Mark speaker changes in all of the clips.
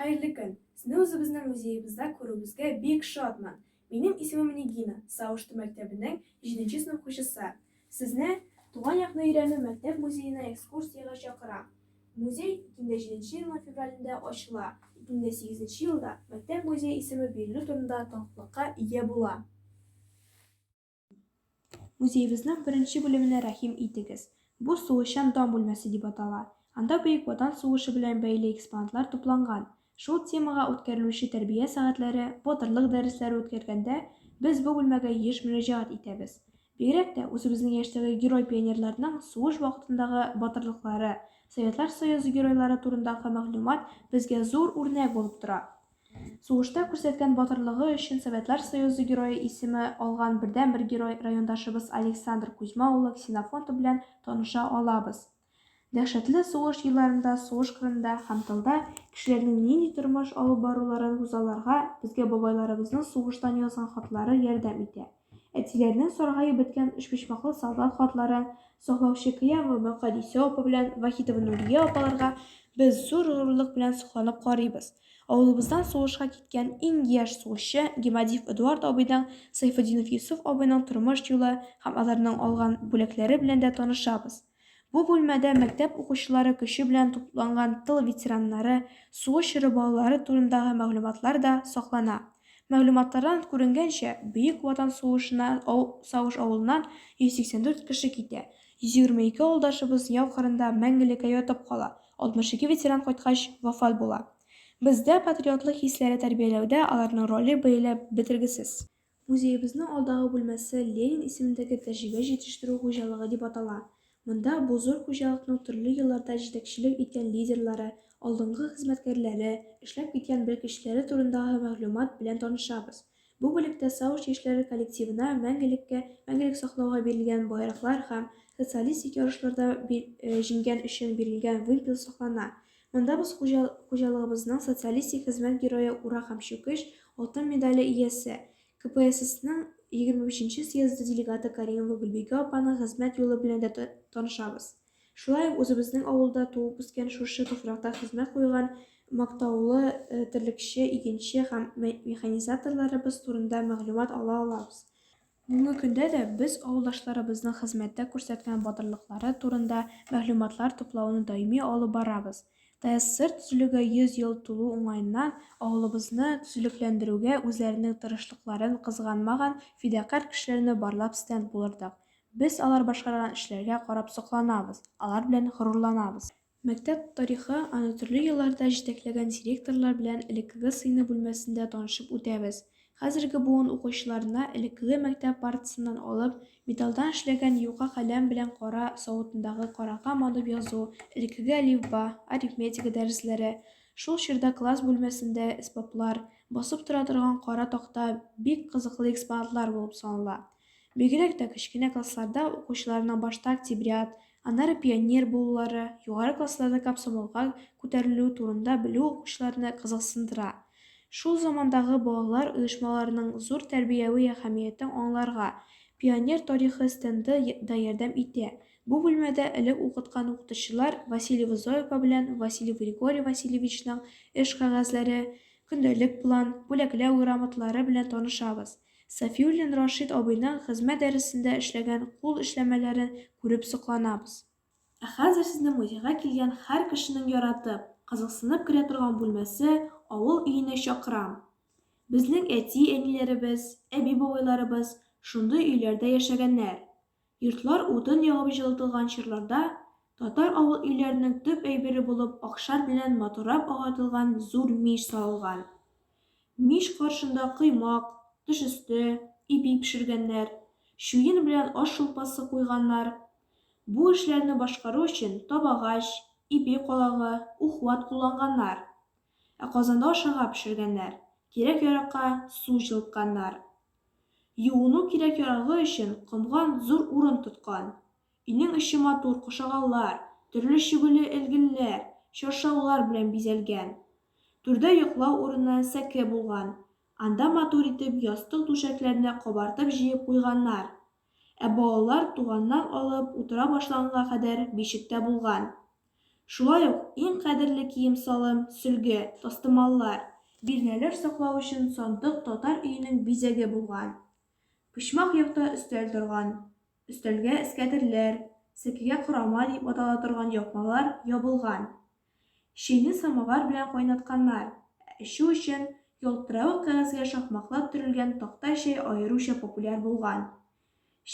Speaker 1: Хәерле көн! Сезне үзебезнең музеебызда күрүебезгә бик шатмын. Минем исемем Нигина, Савышту мәктәбенең җиденче сынып укучысы. Сезне Туган якны өйрәнү мәктәп музеена экскурсиягә чакырам. Музей 2007 елның февралендә ачыла, 2008 елда мәктәп музее исеме бирелү турында таныклыкка ия була. Музеебезнең беренче бүлеменә рәхим итегез. Бу сугышчан дан бүлмәсе дип атала. Анда Бөек Ватан сугышы белән бәйле экспонатлар тупланган. Шул темага үткәрелүче тәрбия сәгатьләре, батырлык дәресләре үткәргәндә, без бу бүлмәгә еш мөрәҗәгать итәбез. Бигрәк тә үзебезнең яшьтәге герой-пионерларның сугыш вакытындагы батырлыклары, Советлар Союзы геройлары турындагы мәгълүмат безгә зур үрнәк булып тора. Сугышта күрсәткән батырлыгы өчен Советлар Союзы Герое исеме алган бердәнбер герой райондашыбыз Александр Кузьма улы Ксенофонтов белән таныша алабыз. Дәһшәтле сугыш елларында сугыш кырында һәм тылда кешеләрнең нинди тормыш алып баруларын күзалларга безгә бабайларыбызның сугыштан язган хатлары ярдәм итә. Әтиләренең саргаеп беткән өчпочмаклы солдат хатлары, саклаучы Кыямова Мөкадисә апа белән Вахитова Нурия апаларга без зур горурлык белән сокланып карыйбыз. Авылыбыздан сугышка киткән иң яшь сугышчы Гемадиев Эдуард абыйның, Сайфетдинов Йосыф абыйның тормыш юлы һәм аларның алган бүләкләре белән дә танышабыз. Бу бүлмәдә мәктәп укучылары көче белән тупланган тыл ветераннары, сугыш чоры балалары турындагы мәгълүматлар да саклана. Мәгълүматлардан күренгәнчә, Бөек Ватан сугышына Сагыш авылыннан 184 кеше китә, 122 авылдашыбыз яу кырында мәңгелеккә ятып кала, 62 ветеран кайткач, вафат була. Бездә патриотлык хисләре тәрбияләүдә аларның роле бәяләп бетергесез. Музеебезнең алдагы бүлмәсе Ленин исемендәге тәҗрибә җитештерү хуҗалыгы дип атала. Монда бу зур хуҗалыкның төрле елларда җитәкчелек иткән лидерлары, алдынгы хезмәткәрләре, эшләп киткән белгечләре турындагы мәгълүмат белән танышабыз. Бу бүлектә Саучы эшләре коллективына мәңгелеккә мәңгелек саклауга бирелгән байраклар һәм социалистик ярышларда җиңгән өчен бирелгән вымпел саклана. Монда без хуҗалыгыбызның социалистик хезмәт герое Ура һәм Чүкеч алтын медале иясе, КПССның 23 нче съезды делегаты Каримова Гөлбикә апаның хезмәт юлы белән дә танышабыз. Шулай ук үзебезнең авылда туып үскән, шушы туфракта хезмәт куйган мактаулы терлекче, игенче һәм механизаторларыбыз турында мәгълүмат ала алабыз. Бүгенге көндә дә без авылдашларыбызның хезмәттә күрсәткән батырлыклары турында мәгълүматлар туплауны даими алып барабыз. ТССР төзелүгә 100 ел тулу уңаеннан авылыбызны төзелекләндерүгә үзләренең тырышлыкларын кызганмаган фидакарь кешеләрне барлап стенд булырдык. Без алар башкарган эшләргә карап сокланабыз, алар белән горурланабыз. Мәктәп тарихы аны төрле елларда җитәкләгән директорлар белән элеккеге сыйныф бүлмәсендә танышып үтәбез. Хәзерге буын укучыларына элеккеге мәктәп партасыннан алып, металлдан эшләгән юка каләм белән кара савытындагы карага манып язу, элеккеге әлифба, арифметика дәресләре, шул чорда класс бүлмәсендә әсбаплар, басып тора торган кара такта бик кызыклы экспонатлар булып санала. Бигрәк тә кечкенә классларда укучыларның башта октябрят, Аннары пионер булулары, югары классларда комсомолга күтәрелү турында белү укучыларны кызыксындыра. Шул замандагы балалар оешмаларының зур тәрбияви әһәмиятен аңларга Пионер тарихы стенды да ярдәм итә. Бу бүлмәдә элек укыткан укытучылар Василий Вызоева белән Василий Григорий Васильевичның эш кәгазьләре, көндәлек план, бүләкләү грамоталары белән танышабыз. Сафиуллин Рашит абыйның хезмәт дәресендә эшләгән кул эшләмәләрен күреп сокланабыз. Ә хәзер сезнең музейга килгән һәр кешенең яратып, кызыксынып керә торган бүлмәсе авыл өенә чакырам. Безнең әти-әниләребез, әби-бабайларыбыз шундый өйләрдә яшәгәннәр. Йортлар утын ягып җылытылган чорларда татар авыл өйләренең төп әйбере булып акшар белән матуррап агартылган зур мич салынган. Мич каршында коймак, тыш өсте, ипи пешергәннәр, чуен белән аш шулпасы куйганнар. Бу эшләрне башкару өчен табагач, ипи калагы, ухват кулланганнар. Ә казанда ашарга пешергәннәр, кирәк-яракка су җылытканнар. Юыну кирәк-ярагы өчен комган зур урын тоткан. Өйнең эче матур кошагаллар, төрле чөгеле элгелләр, чаршаулар белән бизәлгән. Түрдә йоклау урыны, сәке булган. Анда матур итеп ястык-түшәкләрне кабартып җыеп куйганнар. Ә балалар туганнар алып утыра башлаганга кадәр бишектә булган. Шулай ук иң кадерле кием-салым, сөлге, тастымаллар, бирнәләр саклау өчен сандык татар өенең бизәге булган. Почмак якта өстәл торган. Өстәлгә эскәдерләр, сәкегә корама дип атала торган япмалар ябылган. Чәйне самовар белән кайнатканнар. Ә эчү өчен ялтыравык кәгазьгә шакмаклап төрелгән такта чәй аеруча популяр булган.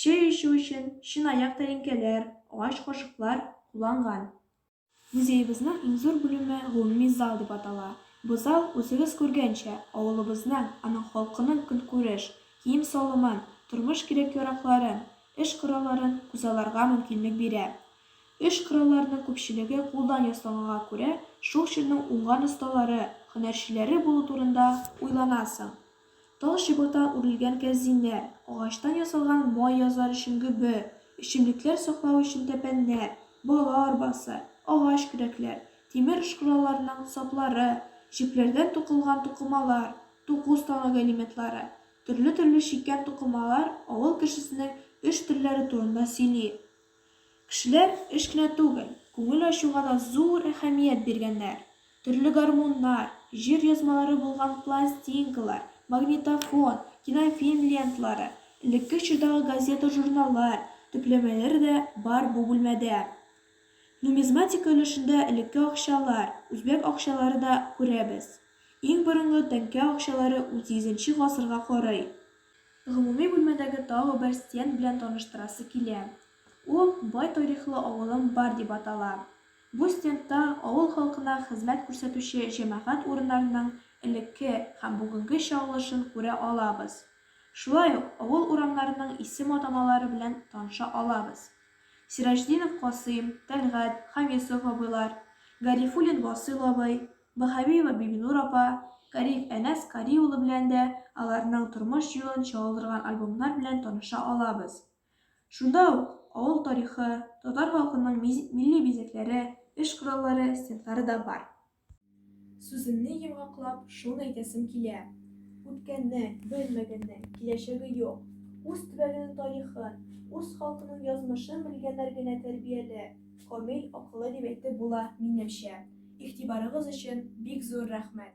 Speaker 1: Чәй эчү өчен чынаяк тәлинкәләр, агач кашыклар кулланган. Музеебызның иң зур бүлеме гомуми зал дип атала. Бу зал, үзегез күргәнчә, авылыбызның, аның халкының көнкүреш, кием-салымын, тормыш кирәк-яракларын, эш коралларын күзалларга мөмкинлек бирә. Эш коралларының күпчелеге кулдан ясалганга күрә, шул чорның уңган осталары, һөнәрчеләре булу турында уйланасың. Тал чыбыкта үрелгән кәрзиннәр, агачтан ясалган май язар өчен гөбе, эчемлекләр саклау өчен тәпәннәр, бала арбасы, агач көрәкләр, тимер эш коралларының саплары, җепләрдән тукылган тукымалар, туку станогы элементлары, төрле-төрле чиккән тукымалар авыл кешесенең эш төрләре турында сөйли. Кешеләр эш кенә түгел, күңел ачуга да зур әһәмият биргәннәр. Төрле гармуннар, җыр язмалары булган пластинкалар, магнитофон, кинофильм ленталары, элекке чордагы газета-журналлар төпләмәләре дә бар бу бүлмәдә. Нумизматика өлешендә элекке акчалар, үзбәк акчалары да күрәбез. Иң борынгы тәңкә акчалары унсигезенче гасырга карый. Гомуми бүлмәдәге тагы бер стенд белән таныштырасы килә. Ул Бай тарихлы авылым бар дип атала. Бу стендта авыл халкына хезмәт күрсәтүче җәмәгать урыннарының элекке һәм бүгенге чагылышын күрә алабыз. Шулай ук авыл урамнарының исем-атамалары белән таныша алабыз. Сираҗтдинов Касыйм, Тәлгать, Хамисов абыйлар, Гарифуллин Васыйл абый, Баһавиева Бибинур апа, Кариев Әнәс Кари улы белән дә аларның тормыш юлын чагылдырган альбомнар белән таныша алабыз. Шунда ук авыл тарихы, татар халкының милли бизәкләре, эш кораллары, стендлары да бар. Сүземне йомгаклап, шуны әйтәсем килә, үткәннең, белмәгәннең, киләчәге юк. Үз төбәгенең тарихын, үз халкының язмышын белгәннәр генә тәрбияле, Комил акылы дип әйтеп була, минемчә. Игътибарыгыз өчен бик зур рәхмәт!